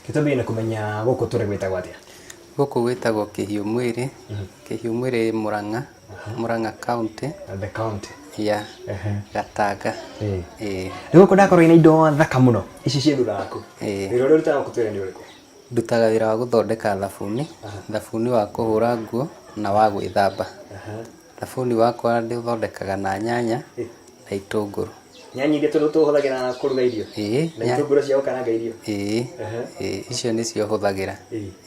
gĩtũmi nĩ kũmenya gũkũ tũrĩ gwĩtagwo atĩa gũkũ gwĩtagwo kĩhiũ mwĩrĩ kĩhiũ mwĩrĩ mũrang'a mũrang'a kaunti the county ya Ehe. gatanga Ĩĩ. ĩĩ nĩ gũkũ ndakorwo ina indo thaka mũno ici ciĩ thutha waku Ĩĩ. wĩra ũrĩa ũrutaga gũkũ twĩra nĩ ũrĩkũ Ndutaga wĩra wa gũthondeka thabuni, thabuni wa kũhũra nguo na wa gwĩthamba. Thabuni wakwa ndĩũthondekaga na nyanya na itũngũrũ. Nyanya iria tũhũthagĩra kũruga irio? Ĩĩ. Na itũngũrũ cia gũkaranga irio? Ĩĩ. Ĩĩ. Icio nĩcio hũthagĩra.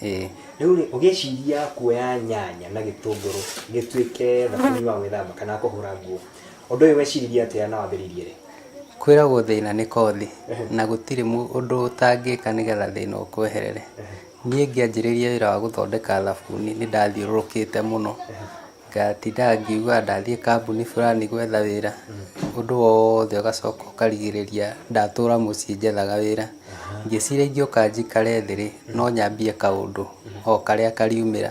Ĩĩ. Rĩu rĩ, ũgĩciria kuoya nyanya na gĩtũngũrũ gĩtuĩke thabuni wa gwĩthamba kana wa kũhũra nguo, Ũndũ ũyũ weciririe atĩa na wambĩrĩirie rĩ? Kwĩragwo thĩna nĩ kothi na gũtirĩ ũndũ ũtangĩka nĩgetha thĩna ũkweherere. Niĩ ngĩanjĩrĩria wĩra wa gũthondeka thabuni nĩ ndathiũrũrũkĩte mũno, ngatindaga ngiugaga ndathiĩ kambuni fulani gwetha wĩra, ũndũ wothe ũgacoka ũkarigĩrĩria ndatũra mũciĩ njethaga wĩra. Ngĩciria ingĩũka njikare thĩ rĩ, no nyambie kaũndũ o karĩa kariumĩra.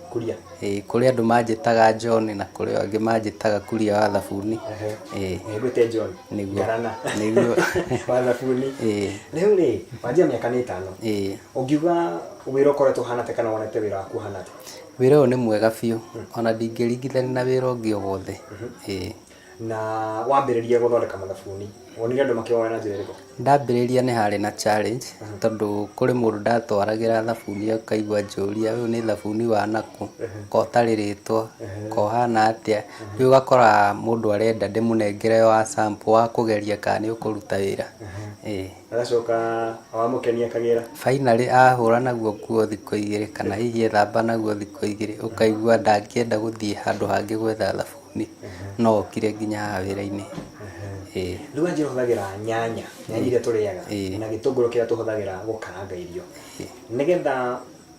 Kuria. Ĩĩ kũrĩ andũ manjĩtaga John na kũrĩ angĩ manjĩtaga Kuria wa thabuni. Ĩĩ. Nĩngwĩte John. Nĩguo. Ngarana. Nĩguo. Wa thabuni. Ĩĩ. Rĩu rĩ, wanjia mĩaka nĩ ĩtano. Ĩĩ. Ũngiuga wĩra ũkoretwo ũhana atĩa kana wonete wĩra waku ũhana atĩa? Wĩra ũyũ nĩ mwega biũ ona ndingĩringithania na wĩra ũngĩ o wothe. Ĩĩ. na wambĩrĩria gũthondeka mathabuni wonire andũ makĩwoya na njĩra ĩrĩkũ ndambĩrĩria nĩ harĩ na challenge tondũ kũrĩ mũndũ ndatwaragĩra thabuni akaigua njũria ũyũ nĩ thabuni wa nakũ ko ũtarĩ rĩtwa ko ũhana atĩa rĩu ũgakora mũndũ arenda ndĩmũnengere wa sample wa kũgeria kana nĩ ũkũruta wĩra ĩĩ agacoka wamũkenia akagĩra finally ahũra naguo nguo thikũ igĩrĩ kana hihi ethamba naguo thikũ igĩrĩ ũkaigua ndangĩenda gũthiĩ handũ hangĩ gwetha thabuni Nĩ- no okire nginya haha wĩra-inĩ Ĩĩ. rĩu wanjĩ ũhũthagĩra nyanya nyanya iria tũrĩaga Ĩĩ. na gĩtũngũrũ kĩrĩa tũhũthagĩra gũkaranga irio nĩgetha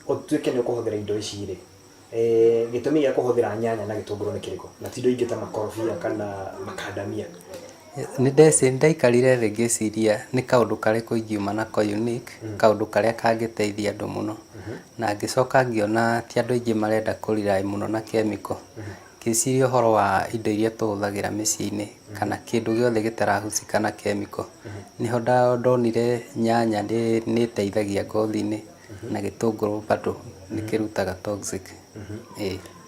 ũtuĩke nĩ ũkũhũthĩra indo ici rĩ eh, gĩtũmi gĩa kũhũthĩra nyanya na gĩtũngũrũ nĩ kĩrĩkũ na ti indo ingĩ ta makorobia kana makandamia nĩ ndeci- nĩ ndaikarire thĩ ngĩciria nĩ kaũndũ karĩkũ ingiuma nako unique kaũndũ karĩa kangĩteithia andũ mũno na ngĩcoka ngĩona ti andũ aingĩ marenda kũrirai mũno na kemiko Ngĩciria ũhoro wa indo iria tũhũthagĩra mĩciĩ-inĩ kana kĩndũ gĩothe gĩtarahucĩka na kemiko, nĩho ndonire nyanya nĩ ĩteithagia ngothi-inĩ na gĩtũngũrũ bado nĩ kĩrutaga toxic.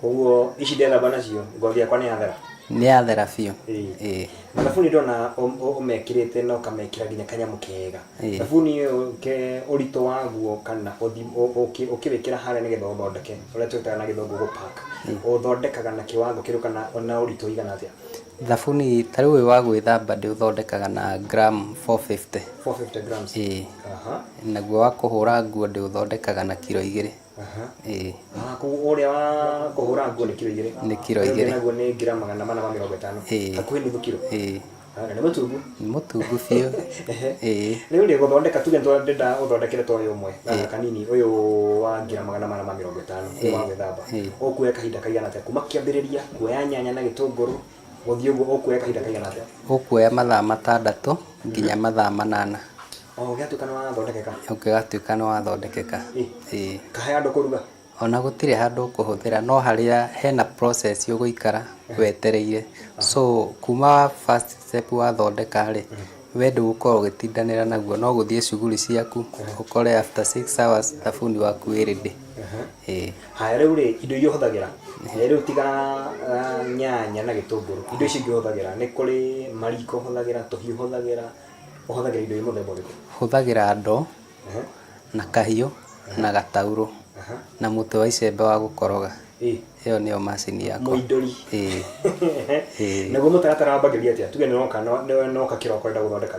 Koguo ici ndethamba nacio ngothi yakwa nĩ yathera? Nĩ yathera biũ. Mathabuni ndĩrona ũmekĩrĩte na ũkamekĩra nginya kanyamũ kega. Ĩĩ. Thabuni ũyũ ke ũritũ waguo kana ũthi ũ- ũkĩ- ũkĩwĩkĩra harĩa nĩgetha ũthondeke ũrĩa twĩtaga na gĩthũngũ gũpack ũthondekaga na kĩwango kĩrĩkũ kana na ũritũ ũigana atĩa Thabuni ta rĩu ũyũ wa gwĩthamba ndĩũthondekaga na gram 450. 450 grams Ĩĩ. Aha. Naguo wa kũhũra nguo ndĩũthondekaga na kiro igĩrĩ. ĩĩ Waku ũrĩa wa kũhũra nguo nĩ kiro igĩrĩ. Nĩ kiro Ũrĩa ũngĩ igĩrĩ. naguo nĩ gram magana mana ma mĩrongo ĩtano. Ĩĩ. Hakuhĩ nuthu kiro. ĩĩ Ah, na nĩ mũtungu. nĩ mũtungu biũ Ehe. ĩĩ Rĩu rĩ gũthondeka tuge nĩtwa- ndĩrenda ũthondekere ta ũyũ ũmwe gaka kanini ũyũ wa gram magana mana ma mĩrongo ĩtano ũyũ wa gwĩthamba. Ĩĩ. Ũkuoya kahinda kaigana atĩa kuma kĩambĩrĩria kuoya nyanya na gĩtũngũrũ Gũthiĩ ũguo ũkuoya kahinda kaigana atĩa? Ũkuoya mathaa matandatũ nginya mathaa manana. O ũgĩatuĩka nĩ wathondekeka? Ũgĩgatuĩka nĩ wathondekeka. Ĩĩ. Ta he handũ ũkũruga? O na gũtirĩ handũ ũkũhũthĩra, no harĩa he na process ũgũikara wetereire. So kuma first step wathondeka rĩ, we ndũgũkorwo ũgĩtindanĩra naguo, no gũthiĩ shughuli ciaku, ũkore after six hours thabuni waku wĩ ready. Ĩĩ. Haya rĩu rĩ, indo iria ũhũthagĩra eh, rĩu tiga ah, nyanya na gĩtũngũrũ indo icio ingĩ ũhũthagĩra nĩ kũrĩ mariko ũhũthagĩra tũhiũ ũhũthagĩra ũhũthagĩra indo iria mũthemba ũrĩkũ hũthagĩra ndoo Ehe, na kahiũ na gataurũ aha. na mũtĩ wa icembe wa gũkoroga Ĩ, ĩyo nĩyo macini yakwa mũindũri Ĩĩ. Ĩĩ. naguo mũtaratara wambagĩrĩria atĩa tuge nĩwoka no- nĩ- nĩwoka kĩroko wenda gũthondeka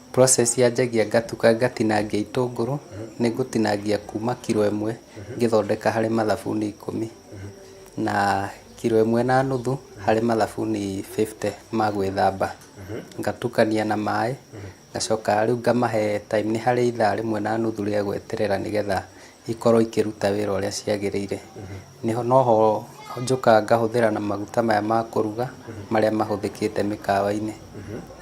Process yanjagia ngatuka ngatinangia itũngũrũ, nĩ ngũtinangia kuma kiro ĩmwe ngĩthondeka harĩ mathabuni ikũmi, na kiro ĩmwe na nuthu harĩ mathabuni fifty ma gwĩthamba, ngatukania na maĩ, ngacoka rĩu ngamahe time nĩ harĩ ithaa rĩmwe na nuthu rĩa gweterera nĩgetha ikorwo ikĩruta wĩra ũrĩa ciagĩrĩire. Nĩho noho njũkaga ngahũthĩra na maguta maya ma kũruga marĩa mahũthĩkĩte mĩkawa-inĩ.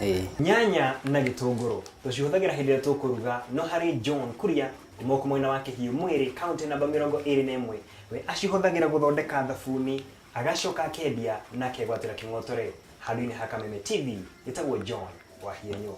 Ĩĩ. Nyanya na gĩtũngũrũ tũcihũthagĩra hĩndĩ ĩrĩa tũkũruga no harĩ John Kuria Mũkũ mwena wa Kĩhiũ Mwĩrĩ, kaũntĩ namba mĩrongo ĩrĩ na ĩmwe, we acihũthagĩra gũthondeka thabuni Agacoka akeendia na akegwatĩra kĩng'otore handũ-inĩ ha Kameme TV gĩtagwo John Wahienyo.